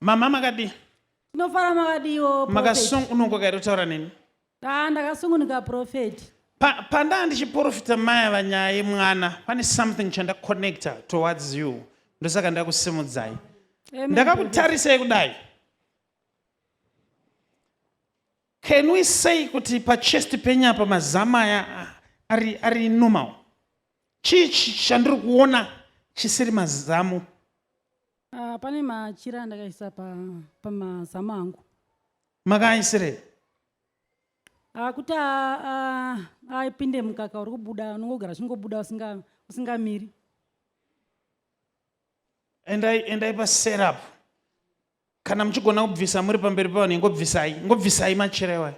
mama makadii tinofara makadiiwo makasungunuka kairi kutaura neni kaa ndakasungunuka profeti pandaa ndichiprofita maya vanyaya yemwana pane something chandaconnecta towards you ndosaka ndakusimudzai ndakakutarisai kudai can we say kuti pachest penyapa mazamu aya ari, ari normal chii chandiri kuona chisiri mazamu Uh, pane machira andakaisa pamazamu pa angu makaaisirei akuti ah, aipinde ah, ah, mukaka uri kubuda unongogara chingobuda usingamiri endai paserup kana muchigona kubvisa muri pamberi pavanhu ingobvisai ngobvisai machira iwayo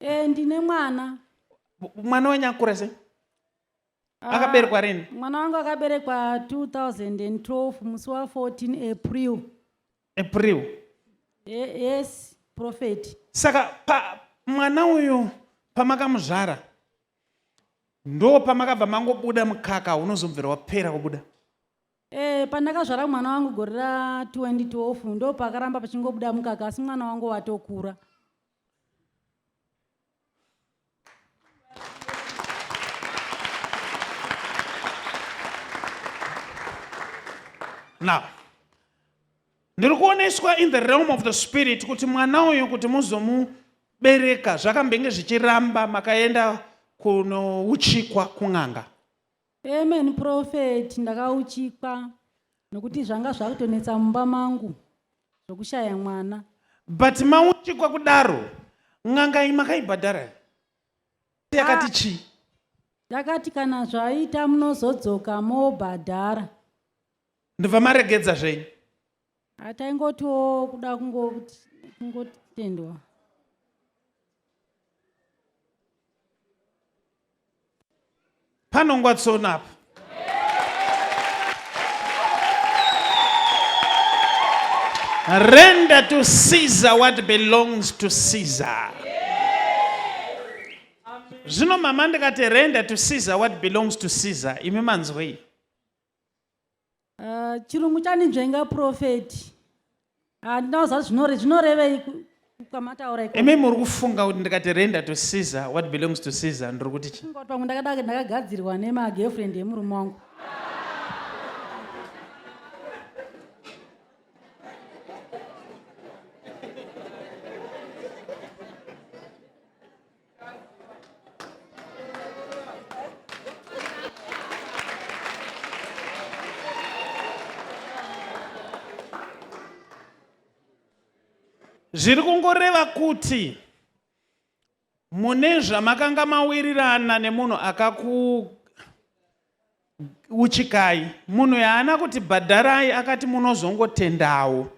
e, ndine mwana mwana wenyu akura sei ah, akaberekwa rini mwana wangu akaberekwa 2012 musi wa 14 april april e, yes prophet saka pa mwana uyu pamakamuzvara ndo pamakabva mangobuda mukaka unozobvira wapera kubuda e, pandakazvara mwana wangu gore ra 2012 ndo pakaramba pachingobuda mukaka asi mwana wangu watokura now ndiri kuoneswa in the realm of the spirit kuti mwana uyu kuti muzomubereka zvakambenge zvichiramba makaenda kunouchikwa kun'anga Amen prophet ndakauchikwa nokuti zvanga zvakutonetsa mumba mangu zvokushaya mwana. But mauchikwa kudaro n'anga makaibhadhara yakati ah. chii? Ndakati kana zvaita munozodzoka mobhadhara. Ndobva maregedza zvenyu. ataingotiwo kuda kungotendwa panongwa tsono apa render to caesar what belongs to caesar zvino mama ndikati render to caesar what belongs to caesar imi manzwei Uh, chirungu chaninzvenga profeti handina ah, kuziva zvinore zvinorevei kwamataura imi muri kufunga kuti ndikati render to caesar what belongs to caesar ndiri kuti chi pamwe ndakadake ndakagadzirwa nemagirlfriend emurume wangu zviri kungoreva kuti mune zvamakanga mawirirana nemunhu akaku uchikai munhu yaana kuti bhadharai akati munozongotendawo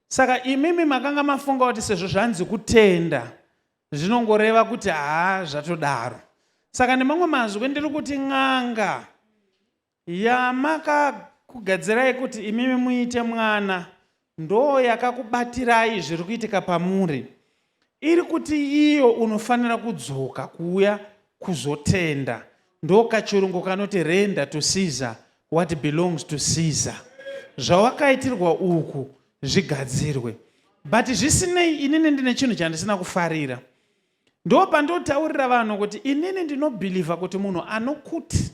saka imimi makanga mafunga kuti sezvo zvanzi kutenda zvinongoreva kuti haa zvatodaro saka nemamwe mazwi ndiri kuti n'anga yamakakugadzirai kuti imimi muite mwana ndoo yakakubatirai zviri kuitika pamuri iri kuti iyo unofanira kudzoka kuuya kuzotenda Ndokachirungu kanoti render to Caesar what belongs to Caesar. Zvawakaitirwa uku zvigadzirwe. But zvisinei inini ndine chinhu chandisina kufarira. Ndo pandotaurira vanhu kuti inini ndinobhilivha kuti munhu anokuti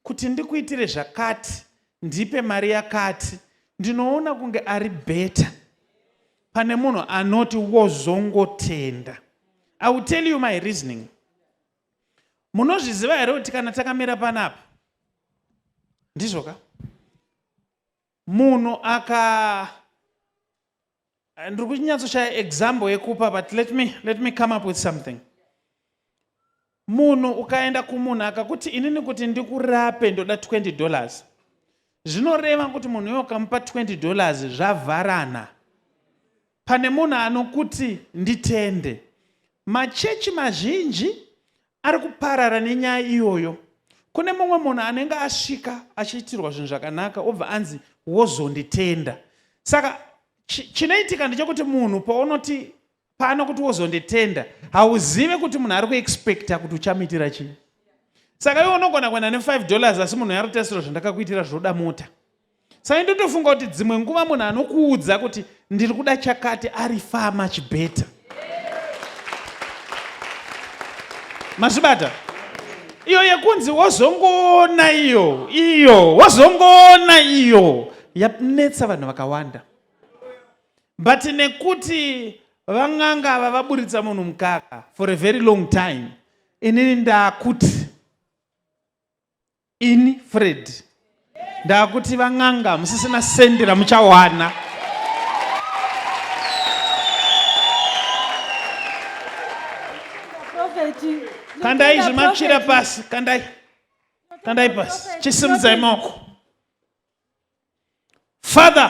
kuti ndikuitire zvakati ndipe mari yakati ndinoona kunge ari beta pane munhu anoti wozongotenda. I will tell you my reasoning. munozviziva here kuti kana takamira panapa ndizvo ka munhu aka ndiri kunyatsoshaya example yekupa but let me, let me come up with something munhu ukaenda kumunhu akakuti inini kuti ndikurape ndoda 20 dollars zvinoreva kuti munhu uyo ukamupa 20 dollars zvavharana Pane munhu anokuti nditende. Machechi mazhinji ari kuparara nenyaya iyoyo. Kune mumwe munhu anenge asvika achiitirwa zvinhu zvakanaka obva anzi wozonditenda. Saka chinoitika ndechekuti munhu paunoti pano kuti wozonditenda hauzive kuti munhu ari kuexpecta kuti uchamuitira chii. Saka iwe unogona kuenda ne5 dollars asi munhu yarotasiro zvandakakuitira zvoda mota. Sai ndotofunga kuti dzimwe nguva munhu anokuudza kuti ndiri kuda chakati ari far much better. Mazvibata? Iyo yekunzi wozongoona iyo, iyo, wozongoona iyo yanetsa vanhu vakawanda. But nekuti vang'anga ava vaburitsa munhu mukaka for a very long time inini ndakuti ini fred ndakuti van'anga hamusisina sendi ramuchawana kandai zvimapshira pasi kandai kandai pasi chisimudzai maoko father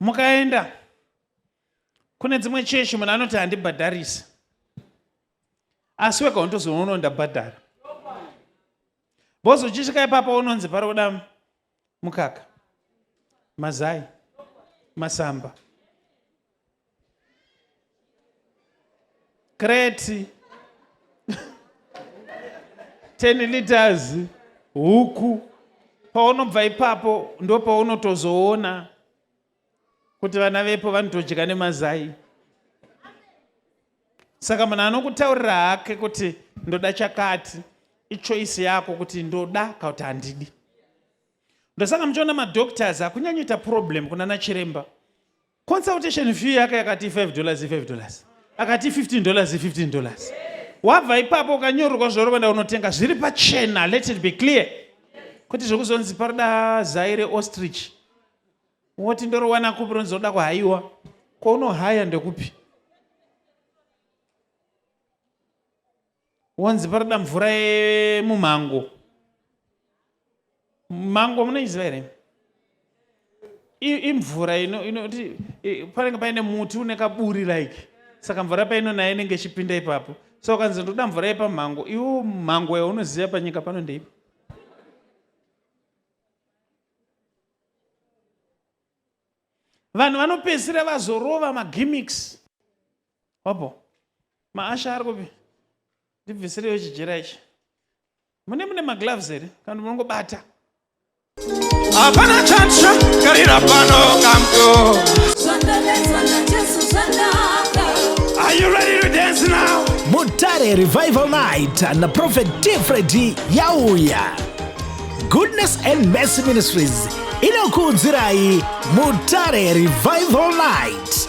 mukaenda kune dzimwe chechi munhu anoti handibhadharisi asi wega unotozoona uno ndabhadhara bhozi uchisvika ipapa unonzi pari kuda mukaka mazai masamba kreti 10 liters huku paunobva ipapo ndo paunotozoona kuti vana vepo vanotodya nemazai saka munhu anokutaurira hake kuti ndoda chakati ichoisi yako kuti ndoda kana kuti handidi ndosaka muchiona madoctors akunyanyoita problem kunana chiremba consultation fee yake yakati 5 dollars 5 dollars akati 15 dollars 15 dollars wabva ipapo ukanyorerwa zvorobanda unotenga zviri pachena let it be clear kuti zvekuzonzi paroda zai reostrich woti ndorowana kupi ronzoda kuhayiwa kwaunohaya ndekupi wonzi paroda mvura yemumhango mango munoiziva here imvura inoti panenge paine muti une kaburi like saka mvura paino nayo inenge ichipinda ipapo so ukanzi ndoda mvura yepamhango iwo mhango yaunoziva panyika pano ndeipi vanhu vanopedzisira vazorova magimics Wapo. Maasha ari kupi? Ndibvisireyo chijera ichi. Mune mune magloves here? Kana munongobata. Hapana chatsva karira pano kamdo. Zvandanetswa naJesu zvanaka. Are you ready to dance now? Mutare Revival Night na Prophet Tifredi yauya. Goodness and Mercy Ministries inokuudzirai Mutare Revival Night